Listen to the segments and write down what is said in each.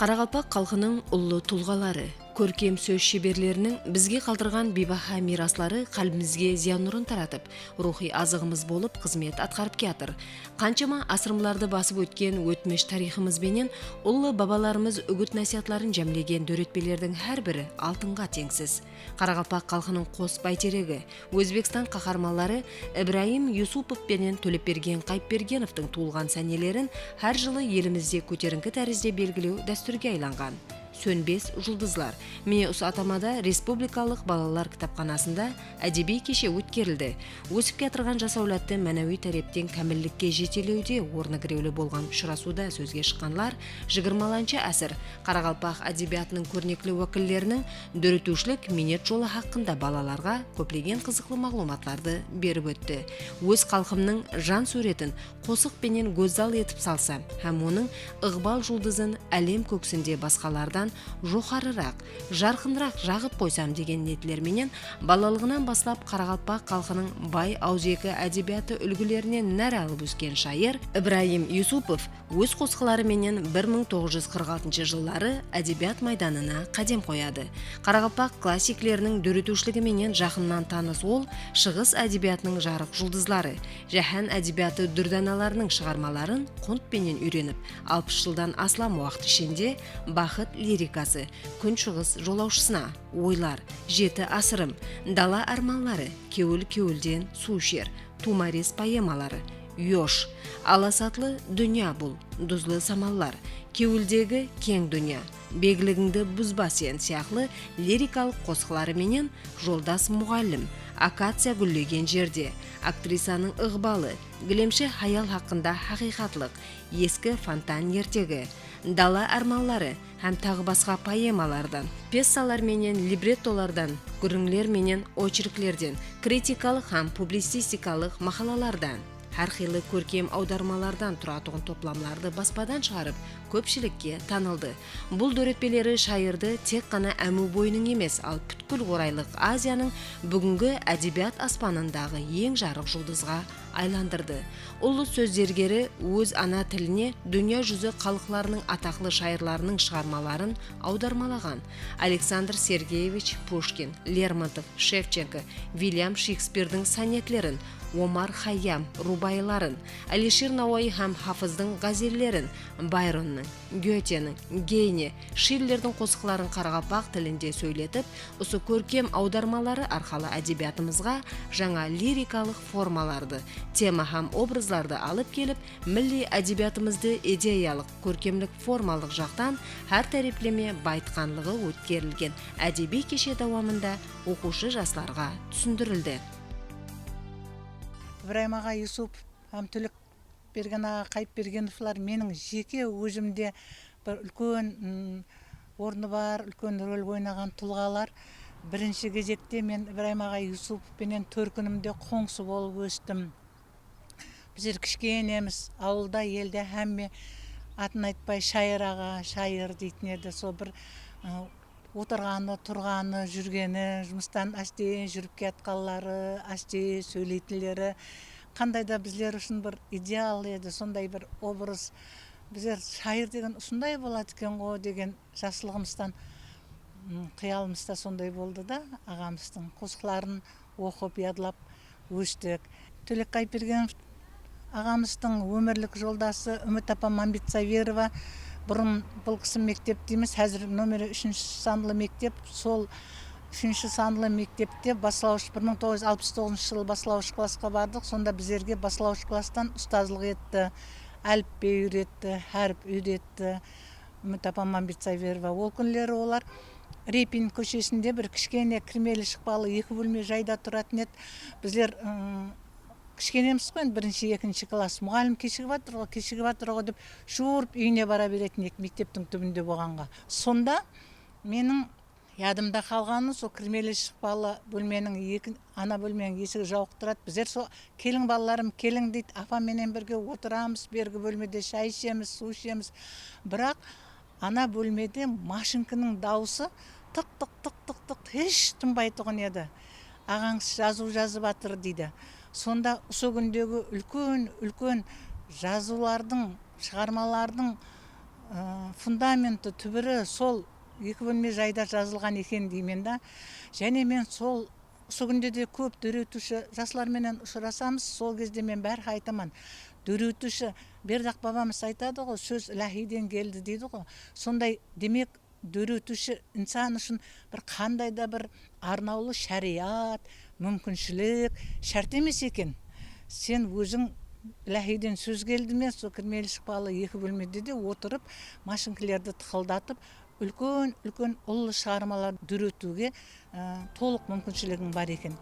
Qaraqalpaq xalqınıń ullı tulǵaları, kórkem sóz sheberleriniń bizge qaldırǵan biybaha miyrasları qálbimizge ziya nurın taratıp, ruwxıy azıǵımız bolıp xızmet atqarıp kiyatır. Qanshama asırmlardı basıp ótken ótmish tariyxımız benen ullı babalarımız úgit-násiyatların jámlegen dóretpelerdiń hár biri altınǵa teńsiz. Qaraqalpaq xalqınıń qos báyteregi, Ózbekstan qaharmanları Ibrayım Yusupov penen Tólepbergen Qayıpbergenovtıń tuwılǵan sánelerin hár jılı elimizde kóterińki tárizde belgilew dástúrge aylanǵan Sónbes juldızlar, mine usı atamada Respublikalıq balalar kitapxanasında ádebiy keshe ótkerildi, ósip kiyatırǵan jas áwladtı mánawiy tárepten kámillikke jetelewde ornı girewli bolǵan ushırasıwda sózge shıqqanlar jigirmalanshı ásir qaraqalpaq ádebiyatınıń kórnekli wákilleriniń Dóretiwshilik miynet jolı haqqında balalarǵa kóplegen qızıqlı maǵlıwmatlardı berip ótti. Óz xalqımnıń jan súwretin qosıq penen gózzal etip salsa hám onıń ıǵbal juldızın álem kóksinde basqalardan joqarıraq, jarqınıraq jaǵıp qoysam degen niyetler menen balalıǵınan baslap qaraqalpaq xalqınıń bay awızeki ádebiyatı úlgilerinen nár alıp ósken shayır Ibrayım Yusupov óz qosıqları menen bir mıń toǵız júz qırq altınshı jılları ádebiyat maydanına qádem qoyadı. Qaraqalpaq klassikleriniń dóretiwshiligi menen jaqınnan tanıs ol Shıǵıs ádebiyatınıń jarıq juldızları, jáhán ádebiyatı dúrdanalarınıń shıǵarmaların qunt penen úyrenip, alpıs jıldan aslam waqıt ishinde Baxıt lirikası, Kúnshıǵıs jolawshısına, Oylar, Jeti asırım, Dala ármanları, Kewil kewilden suw isher, Tuwmares poemaları, Yosh, alasatlı dúnya bul, duzlı samallar, Kewildegi keń dúnya, Begligińdi buzba sen sıyaqlı lirikalıq qosıqları menen Joldas muǵallim, Akaciya gúllegen jerde, Aktrisanıń ıǵbalı, Gilemshi hayal haqqında haqıyqatlıq, Eski fontan ertegi, Dala ármanları, Hám taǵı basqa poemalardan. Pessalar menen librettolardan. Gúrrińler menen ocherklerden. Kritikalıq hám publicistikalıq maqalalardan. Hár qıylı kórkem awdarmalardan turatuǵın toplamlardı baspadan shıǵarıp, kópshilikke tanıldı. Bul dóretpeleri shayırdı tek ǵana Ámiw boyınıń emes, al pútkil Oraylıq Aziyanıń búgingi ádebiyat aspanındaǵı eń jarıq juldızǵa aylandırdı. Ullı sóz zergeri óz ana tiline dúnya júzi xalıqlarınıń ataqlı shayırlarınıń shıǵarmaların awdarmalaǵan Aleksandr Sergeyevich Pushkin, Lermontov, Shevchenko, Viliam Shekspirdiń sonetlerin, Omar Xayyam rubayıların, Alishir Nawayı hám Hafızdıń ǵázellerin, Bayronnıń, Gyoteniń, Geyne, Shillerdiń qosıqların qaraqalpaq tilinde sóyletip, usı kórkem awdarmaları arqalı ádebiyatımızǵa jańa lirikalıq formalardı, tema hám obrazlardı alıp kelip, milliy ádebiyatımızdı ideyalıq, kórkemlik-formallıq jaqtan hár tárepleme bayıtqanlıǵı ótkerilgen ádebiy keshe dawamında oqıwshı jaslarǵa túsindirildi. Ibrayım aǵa Yusupov hám Túlik Bergen aǵa Qayıpbergenovlar meniń jeke ózimde bir úlken ornı bar, úlken rol oynaǵan tulǵalar. Birinshi gezekte men Ibrayım aǵay Yusupov penen tórkinimde qońsı bolıp óstim. Bizler kishkenemiz, awılda, elde hámme atın aytpay Shayır aǵa, Shayır deytin edi. Sol bir Otırǵanı, turǵanı, júrgeni, jumıstan ásteyin júrip kiyatqanları, ásteyin sóyleytinleri qanday da bizler ushın bir ideal edi, sonday bir obraz. Bizler shayır degen usınday boladı eken-ǵo degen jaslıǵımızdan qıyalımızda sonday boldı da, aǵamızdıń qosıqların Oqıp, yadlap óstik. Tólek Qaypergenov aǵamızdıń ómirlik joldası Úmit apa Mambetsaverova. Burın bul kisi mektep deymiz, házir nomeri úshinshi sanlı mektep. Sol úshinshi sanlı mektepte baslawısh bir mıń toǵız júz alpıs toǵızınshı jılı baslawısh klassqa bardıq. Sonda bizlerge baslawısh klasstan ustazlıq etti, álipbey úyretti, hárip úyretti. Umut apa Mambetsaberova ol kúnleri olar Repin kóshesinde bir kishkene kirmeli-shıqpalı eki bólme jayda turatuın edi. Bizler kishkenemiz ǵo endi birinshi, ekinshi klass. Muǵallim keshigip atır ǵo, keshigip atır ǵo dep juuırıp úyine bara beretuın edik mekteptiń túbinde bolǵanǵa. Sonda meniń Yadımda qalǵanı sol kirmeli shıqpalı bólmeniń eki ana bólmeniń esigi jauıq turadı bizler sol keliń balalarım keliń deydi apam menen birge otıramız bergi bólmede shay ishemiz suw ishemiz biraq ana bólmede mashinkiniń dauısı tıq tıq tıq tıq tıq hesh tınbaytuǵın edi aǵańız jazıu jazıp atır deydi sonda usı kundegi úlken úlken jazıulardıń shıǵarmalardıń fundamenti túbiri sol Eki bólme jayda jazılǵan eken deymen da jáne men sol usı kúnde de kóp dóretiwshi jaslar menen ushırasamız sol gezde men bárxá aytaman dóretiwshi berdaq babamız aytadı ǵo sóz ilahiyden keldi deydi ǵo sonday demek dóretiwshi insan ushın bir qanday da bir Arnawlı shariyat, múmkinshilik shárt emes eken. Sen óziń ilahiyden sóz keldi me, sol kirmeli shıqpalı eki bólmede de otırıp, mashinkilerdi tıqıldatıp, úlken-úlken ullı shıǵarmalar dóretiwge tolıq múmkinshiligiń bar eken.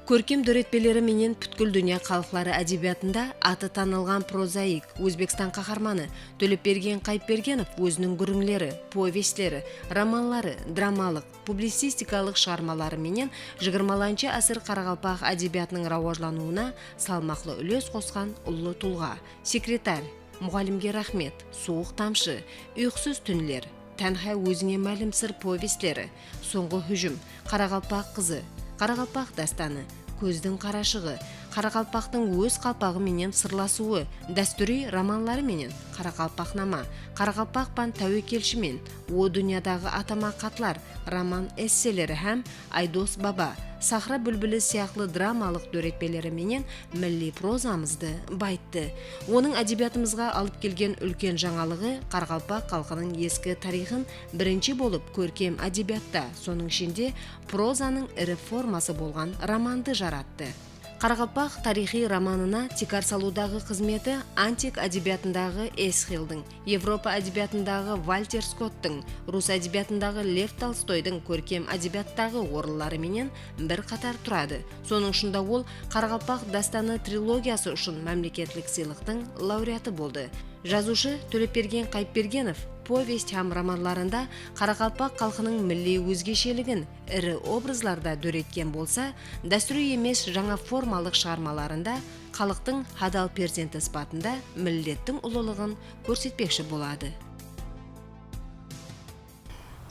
Kórkem dóretpeleri menen pútkil dúnya xalıqları ádebiyatında atı tanılǵan prozaik, Ózbekstan qaharmanı Tólepbergen Qayıpbergenov óziniń gúrińleri, povestleri, romanları, dramalıq, publicistikalıq shıǵarmaları menen jigirmalanshı ásir qaraqalpaq ádebiyatınıń rawajlanıwına salmaqlı úles qosqan ullı tulǵa, Sekretarь, Muǵallimge raxmet, Suwıq tamshı, Uyqısız túnler, Tánhá ózińe málim sır povestleri, Sońǵı hújim, Qaraqalpaq qızı, Qaraqalpaq dástanı, Kózdiń qarashıǵı, Qaraqalpaqtıń óz qalpaǵı menen sırlasıwı, dástúriy romanları menen Qaraqalpaqnama, Qaraqalpaqpan táwekelshi men, O dúnyadaǵı atama xatlar, roman-esseleri hám Aydos baba, Sahra búlbili sıyaqlı dramalıq dóretpeleri menen milliy prozamızdı bayıttı. Onıń ádebiyatımızǵa alıp kelgen úlken jańalıǵı qaraqalpaq xalqınıń eski tariyxın birinshi bolıp kórkem ádebiyatta, sonıń ishinde prozanıń iri forması bolǵan romandı jarattı. Qaraqalpaq tariyxıy romanına tiykar salıwdaǵı xızmeti antik ádebiyatındaǵı Esxildıń, Evropa ádebiyatındaǵı Valter Skottıń, rus ádebiyatındaǵı Lev Tolstoydıń kórkem ádebiyattaǵı orınları menen bir qatar turadı, sonıń ushın da ol Qaraqalpaq dástanı trilogiyası ushın mámleketlik sıylıqtıń laureatı boldı. Jazıwshı Tólepbergen Qayıpbergenov povest hám romanlarında qaraqalpaq xalqınıń milliy ózgesheligin, iri obrazlarda dóretken bolsa, dástúriy emes jańa formalıq shıǵarmalarında xalıqtıń hadal perzenti sıpatında millettiń ulılıǵın kórsetpekshi boladı.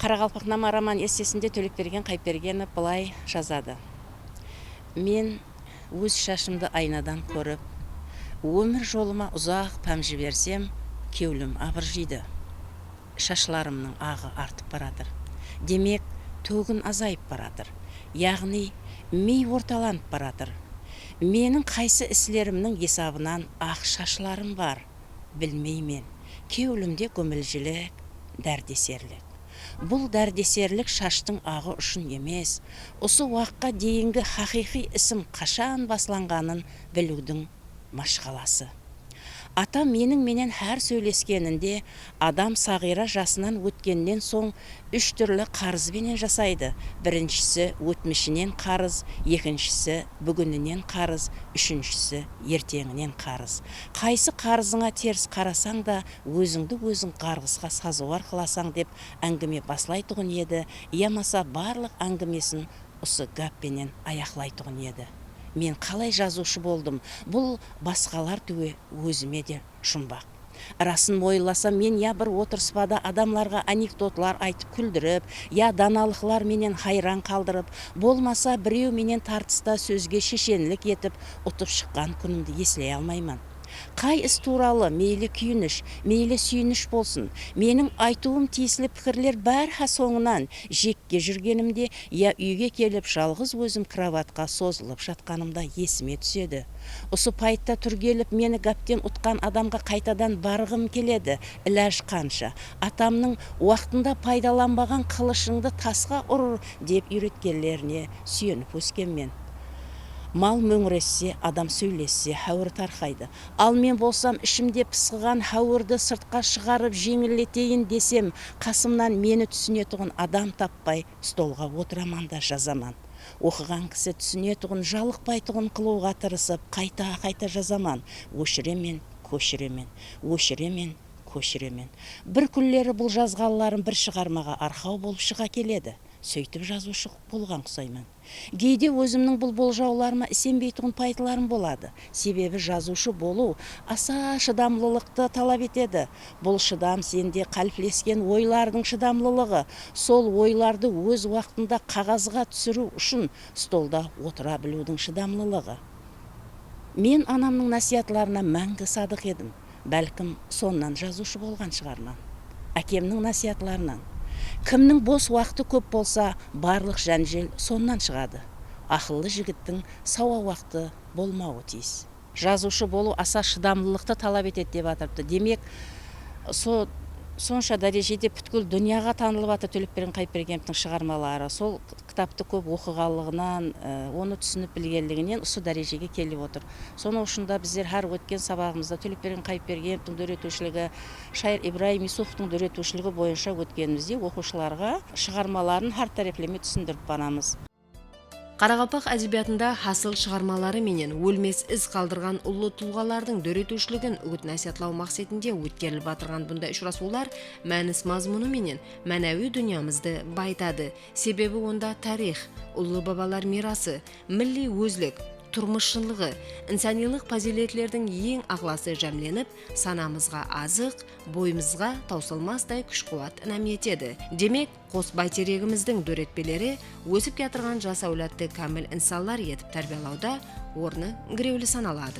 Qaraqalpaqnama roman-essesinde Tóleqbergen Qayıpbergenov bılay jazadı, Men óz shashımdı aynadan kórip, ómir jolıma uzaq pám jibersem, kewlim abırjıydı. Shashlarımnıń aǵı artıp baratır. Demek, tógin azayıp baratır. Yaǵnıy, miy ortalanıp baratır. Meniń qaysı islerimniń esabınan aq shashlarım bar, bilmeymen. Kewlimde gómiljilik, dárdeserlik. Bul dárdeserlik shashtıń aǵı ushın emes, usı waqıqqa deyingi haqıyqıy isim qashan baslanǵanın biliwdiń mashqalası. Atam meniń menen hár sóyleskeninde adam saǵıyra jasınan ótkennen soń úsh túrli qarız benen jasaydı, birinshisi, ótmishinen qarız, ekinshisi, búgininen qarız, úshinshisi, erteńinen qarız. Qaysı qarızıńa ters qarasań da, ózińdi óziń ǵarǵısqa sazıwar qılasań dep áńgime baslaytuǵın edi yamasa barlıq áńgimesin usı gáp penen ayaqlaytuǵın edi. Men qalay jazıwshı boldım, bul. basqalar túwe ózime de jumbaq. Rasın oylasam men ya bir otırıspada adamlarǵa anekdotlar aytıp kúldirip, ya danalıqlar menen hayran qaldırıp, bolmasa birew menen tartısta sózge sheshenlik etip utıp shıqqan kúnimdi esley almayman. Qay is tuwralı, meyli kúyinish, meyli súyinish bolsın, meniń aytıwım tiyisli pikirler bárha sońınan jekke júrgenimde ya úyge kelip jalǵız ózim krovatqa sozılıp jatqanımda esime túsedi. Usı payıtta túrgelip meni gápten utqan adamǵa qaytadan barǵım keledi, ilaj qansha, atamnıń Waqtında paydalanbaǵan qılıshıńdı tasqa ur dep úyretkenlerine súyenip óskenmen. Mal móńiresse, adam sóylesse háwir tarqaydı. Al men bolsam ishimde pısqıǵan háwirdi sırtqa shıǵarıp jeńilleteyin desem, qasımnan meni túsinetuǵın adam tappay, Stolǵa otıraman da jazaman. Oqıǵan kisi túsinetuǵın, jalıqpaytuǵın qılıwǵa tırısıp, qayta-qayta jazaman. Óshiremen, kóshiremen. Óshiremen, kóshiremen. Bir kúnleri bul jazǵanlarım bir shıǵarmaǵa arqaw bolıp shıǵa keledi. Sóytip jazıwshı bolǵan qusayman. Geyde ózimniń bul boljawlarıma isenbeytuǵın payıtlarım boladı. Sebebi jazıwshı bolıw asa shıdamlılıqtı talap etedi. Bul shıdam sende qáliplesken oylardıń shıdamlılıǵı, sol oylardı óz waqtında qaǵazǵa túsiriw ushın stolda otıra biliwdiń shıdamlılıǵı. Men anamnıń násiyatlarına máńgi sadıq edim. Bálkim, sonnan jazıwshı bolǵan shıǵarman. Ákemniń násiyatlarınan. Kimniń bos waqtı kóp bolsa, barlıq jánjel sonnan shıǵadı. Aqıllı jigittiń sawa waqtı bolmawı tiyis. Jazıwshı bolıw asa shıdamlılıqtı talap etedi dep atırıptı. Demek, so sonsha dárejede pútkil dúnyaǵa tanılıp atır Tólepbergen Qayıpbergenovtıń shıǵarmaları. Sol. kitaptı kóp oqıǵanlıǵınan, onı túsinip bilgenliginen usı dárejege kelip otır. Sonıń ushın da bizler hár ótken sabaǵımızda Tólepbergen Qayıpbergenevtiń dóretiwshiligi, shayır Ibrayım Yusufovtıń dóretiwshiligi boyınsha ótkenimizdey oqıwshılarǵa shıǵarmaların hár tárepleme túsindirip baramız. Qaraqalpaq ádebiyatında hasıl shıǵarmaları menen ólmes iz qaldırǵan ullı tulǵalardıń dóretiwshiligin úgit-násiyatlaw maqsetinde ótkerilip atırǵan bunday ushırasıwlar mánis-mazmunı menen mánawiy dúnyamızdı bayıtadı, Sebebi onda tariyx, ullı babalar miyrası, milliy ózlik, turmıs shınlıǵı, insanıylıq pazıyletlerdiń eń aǵlası jámlenip, sanamızǵa azıq, boyımızǵa tawsılmastay kúsh-quwat inam etedi. Demek, qos bayteregimizdiń dóretpeleri ósip kiyatırǵan jas áwladtı kámil insanlar etip tárbiyalawda ornı girewli sanaladı.